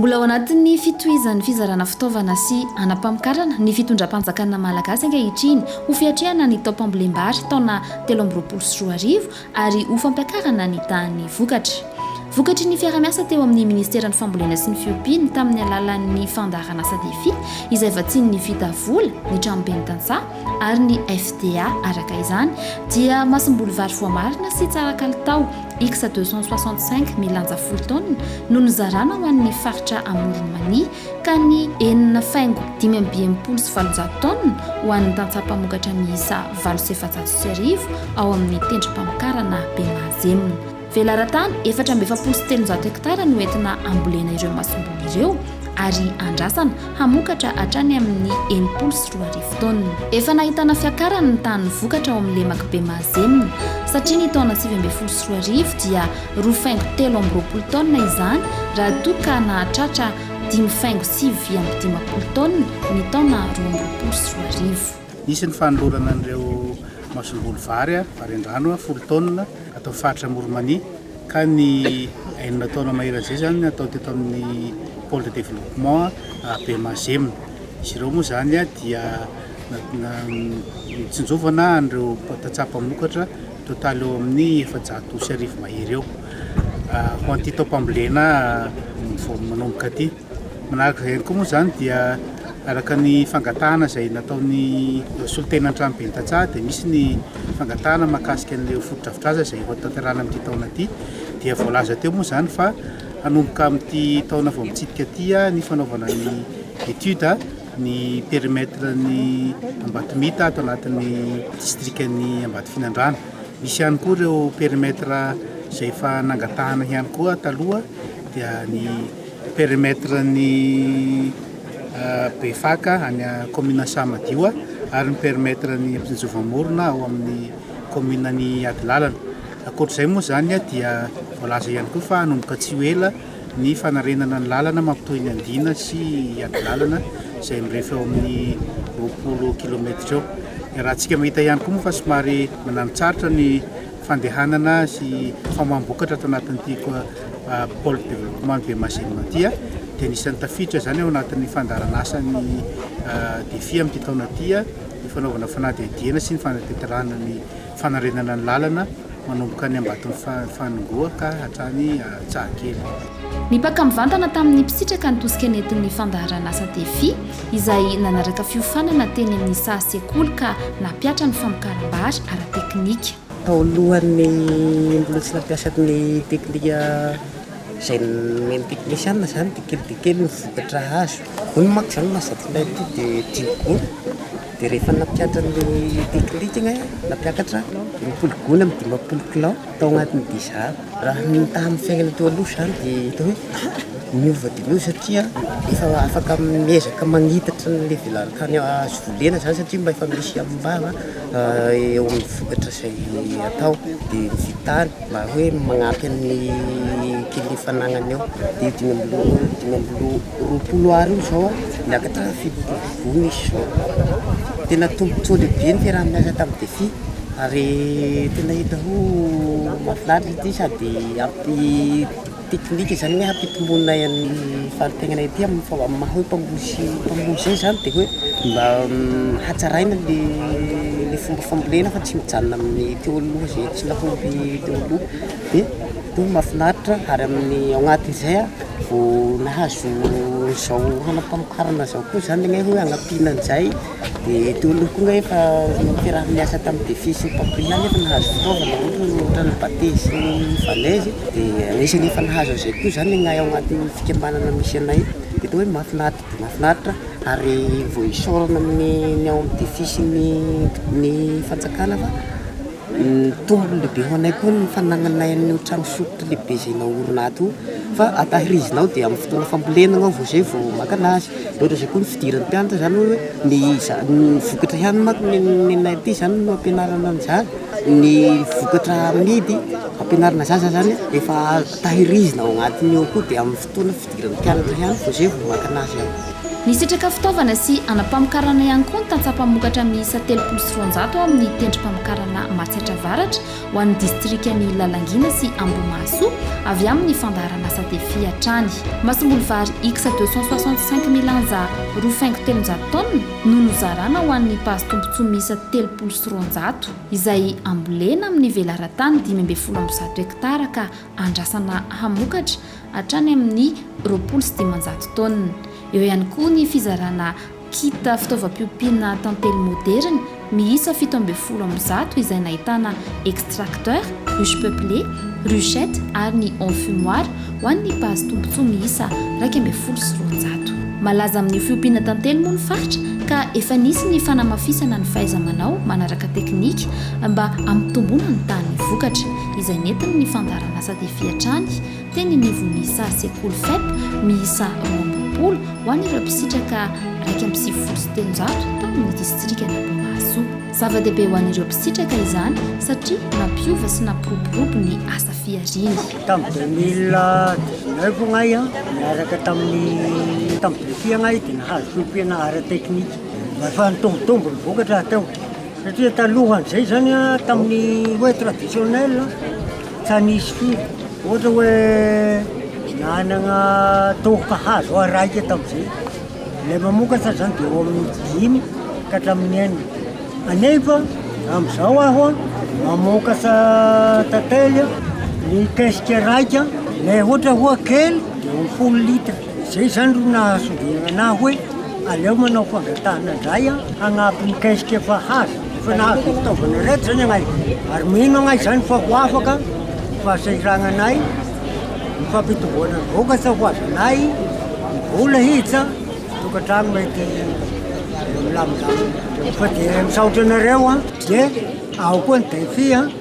Mbola ao anatin'ny fitohizan'ny fizarana fitaovana sy hanam-pamokarana ny fitondram-panjakana malagasy ankehitriny ho fiatrehana ny taom-pambolem-bary taona telo amby roapolo sy roa arivo ary ho fampiakarana ny tahan'ny vokatra. Vokatry ny fiarahamiasa teo amin'ny Ministeran'ny Fambolena sy ny Fiompiana tamin'ny alalan'ny fandaharanasa Defi izay vatsian'ny Vita Vola, ny Tranomben'ny Tantsaha ary ny FDA araka izany dia masomboly vary voamarina sy tsara kalitao X deux cent soixante-cinq milanja folo taonina no nizarana ho an'ny faritra Amoron'i Mania ka ny enina faingo dimy amby enimpolo sy valonjato tonnes ho an'ny tantsaha mpamokatra miisa valo sy efajato sy arivo ao amin'ny tendrom-pamokarana Bemahazem. Velaran-tany efatra amby efapolo sy telonjato hektara no entina ambolena ireo masomboly ireo ary andrasana hamokatra hatrany amin'ny enimpolo sy roa arivo tonnes. Efa nahitana fiakarany ny tahan'ny vokatra ao amin'ny lemak'i Bemahazem satria ny taona sivy ambin'ny folo sy roa arivo dia roa faingo telo amby roapolo taonina izany raha toa ka nahatratra dimy faingo sivy vy amby dimampolo taonina ny taona roa amby roapolo sy roa arivo. Nisy ny fanolorana an'ireo masomboly vary, varian-drano, folo taonina ato amin'ny faritra Moromania ka ny enina taona mahery an'izay izany natao teto amin'ny Pôle de Développement Bemazemina. Izy ireo moa izany dia nat- na- nitsinjovana an'ireo tantsaha mpamokatra Totaly eo amin'ny efajato osy arivo mahery eo ho an'ity taom-pambolena vao manomboka ity. Manaraka izay koa moa izany dia araka ny fangatahana izay nataon'ny solontena an-tranoben'ny tantsaha dia misy ny fangatahana mahakasika an'ilay fotodrafitrasa izay ho tanterahana amin'ity taona ity dia voalaza teo moa izany fa hanomboka amin'ity taona vao mitsidika ity ny fanaovana ny étude ny périmètre ny Ambatomita ato anatin'ny distrika ny Ambatofinandrana. Misy ihany koa ireo périmètre izay efa nangatahana ihany koa taloha dia ny périmètre ny euh, Befaka any commune Samadioa ary ny périmètre ny Ampisinjovamorona ao amin'ny commune ny Adilalana. Ankoatr'izay moa izany dia voalaza ihany koa fa hanomboka tsy ho ela Ny fanarenana ny lalana mampitohy ny andiana sy adilàlana izay mirefy eo amin'ny roapolo kilometatra eo. Iarahantsika mahita ihany koa moa fa somary mananotsaritra ny fandehanana sy famoaham-bokatra ato anatin'ity Pole Development Bemazema ity dia anisan'ny tafiditra izany ao anatin'ny fandaharanasan'ny Defi amin'ity taona ity ny fanaovana fanadihadihana sy ny fanatanterahana ny Fanarenana ny lalana manomboka any Ambaton'i Faningoa ka hatrany Antsahakely. Nipaka mivantana tamin'ny mpisitraka ny tosika nentin'ny fandaharanasa Defi, izay nanaraka fiofanana teny amin'ny saha sekoly ka nampihatra ny famokaram-bary ara-teknika. Tao alohan'ny mbola tsy nampiasa ny teknika izay nomen'ny teknisiana izany dia kely dia kely ny vokatra azo. Hoy ny manko izany, Mazakilahy ity dia tiako koa. Dia rehefa nampiakatra ny Picnic aho, nampiakatra roapolo gony amin'ny dimampolo kilao tao anatin'ny bizarre. Raha ny tamin'ny fiainana teo aloha izany dia hita hoe niova dia niova satria efa afaka miezaka magnitatra ny levelan'ny tany azo volena izany satria mba efa misy hamombava eo amin'ny vokatra izay atao dia vitany mba hoe magnampy an'ny kely fanagnana eo dia dimy amby roa, dimy amby roa. Roapolo Ar io zao niakatra fito ambinifolo izy zao, tena tombotsoa lehibe ny fiaraha-miasa tamin'ny Defi ary tena hita ho mahafinaritra ity sady ampi-teknika zany hoe hampitomboana ny fari-piainana ety amin'ny maha hoe mpamboly mpamboly zay zany dia hoe mba hatsaraina le fomba fambolena fa tsy mijanona amin'ny teo aloha zay tsy nahomby teo aloha dia mahafinaritra ary amin'ny ao anatin'izay Vao nahazo izao hanam-pamokarana izao koa izany ny anay hoe hanampiana an'izay dia teo aloha koa ny anay efa niaraha-niasa tamin'ny Defi sy ny Papri ihany efa nahazo fitaovana ohatra ny Bate sy ny Valaizy dia anisany efa nahazo an'izay koa izany ny anay ao anatin'ny fikambanana misy anay dia atao hoe mahafinaritra dia mahafinaritra ary vao isaorana ny ao amin'ny Defi sy ny ny fanjakana fa Nitombo lehibe ho anay koa ny fanagnanay an'io trano fisotro lehibe izay naorina ato io fa tahirizina ao dia amin'ny fotoana fambolena ianao vao izay vao maka an'azy. Mihoatra izay koa ny fidiran'ny mpianatra izany hoe ny ny vokatra ihany manko ny nenay aty izany no ampianarana an'izany, ny vokatra amidy ampianarana zaza izany efa tahirizina ao anatiny ao koa dia amin'ny fotoana. Fotoana fidiran'ny mpianatra ihany vao izay vao maka anazy aho. Nisitraka fitaovana sy anam-pamokarana ihany koa ny tantsaha mpamokatra miisa telopolo sy roanjato ao amin'ny tendrom-pamokarana Matsiatra Avaratra ho an'ny distrikan'i Lalangina sy Ambohimahasoa avy amin'ny fandaharan'asa Defi hatrany. Masomboly vary X deux cent soixante cinq milanja roa faingo telonjato taonina no nozarana ho an'ny base tombontsoa miisa telopolo sy roanjato izay ambolena amin'ny velaran-tany dimy ambin'ny folo amby zato hektara ka andrasana hamokatra hatrany amin'ny roapolo sy dimanjato taonina. Eo ihany koa ny fizarana kit fitaovam-piompiana tantely moderina miisa fito ambin'ny folo amby zato izay nahitana extracteur, ruche peuplée, ruchette ary ny enfumoir ho an'ny base tombontsoa miisa iraika ambin'ny folo sy roanjato. Malaza amin'io fiompiana tantely moa ny faritra ka efa nisy ny fanamafisana ny fahaiza-manao manaraka teknika mba hampitomboana ny tahan'ny vokatra. izay nentiny ny fandaharanasa tefy hatrany teny anivon'ny saha sekoly Fep miisa roa ambin'ny folo ho an'ireo mpisitraka iraika amby sivifolo sy telonjato tao amin'ny distrikan'Ambohimahasoa. Zava-dehibe ho an'ireo mpisitraka izany satria nampiova sy nampiroborobo ny asa fihariany. Tamin'ny deux mille dix-neuf agnay an, niaraka tamin'ny tamin'ny BEFI agnay dia nahazo fiompiana ara-teknika. Efa nitombotombo ny vokatra hateo. Satria talohan'izay izany a, tamin'ny hoe traditionnel, tsa nisy firy. Ohatra hoe nanagna tohoka hazo aho raika tamin'izay. Ilay mamokatra izany dia eo amin'ny dimy ka hatramin'ny enina. Kanefa amin'izao aho a, mamokatra tantely a, ny kesika raika, ilay ohatra hoe kely dia eo amin'ny folo litre. Izay izany no nahasongaina anah hoe aleo manao fangatahana indray hanampy ny kesika efa hazo, efa nahazo fitaovana ireto izany anay, ary mino anah izany fa ho afaka ny fahasahirananay, ny fampitomboana ny vokatra ho azonay, ny vola hiditra, ny tokantrano mety milamindamina, fa dia misaotra anareo an, dia ao koa ny defi an.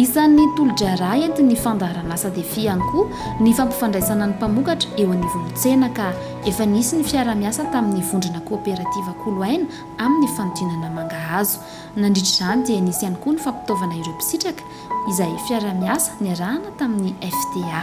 Isan'ny tolo-draharaha entin'ny fandaharanasa Defi ihany koa ny fampifandraisana ny mpamokatra eo anivon'ny tsena ka efa nisy ny fiaraha-miasa tamin'ny vondrona kooperativa Koloaina amin'ny fanodinana mangahazo. Nandritra izany dia nisy ihany koa ny fampitaovana ireo mpisitraka izay fiaraha-miasa niarahana tamin'ny FTA.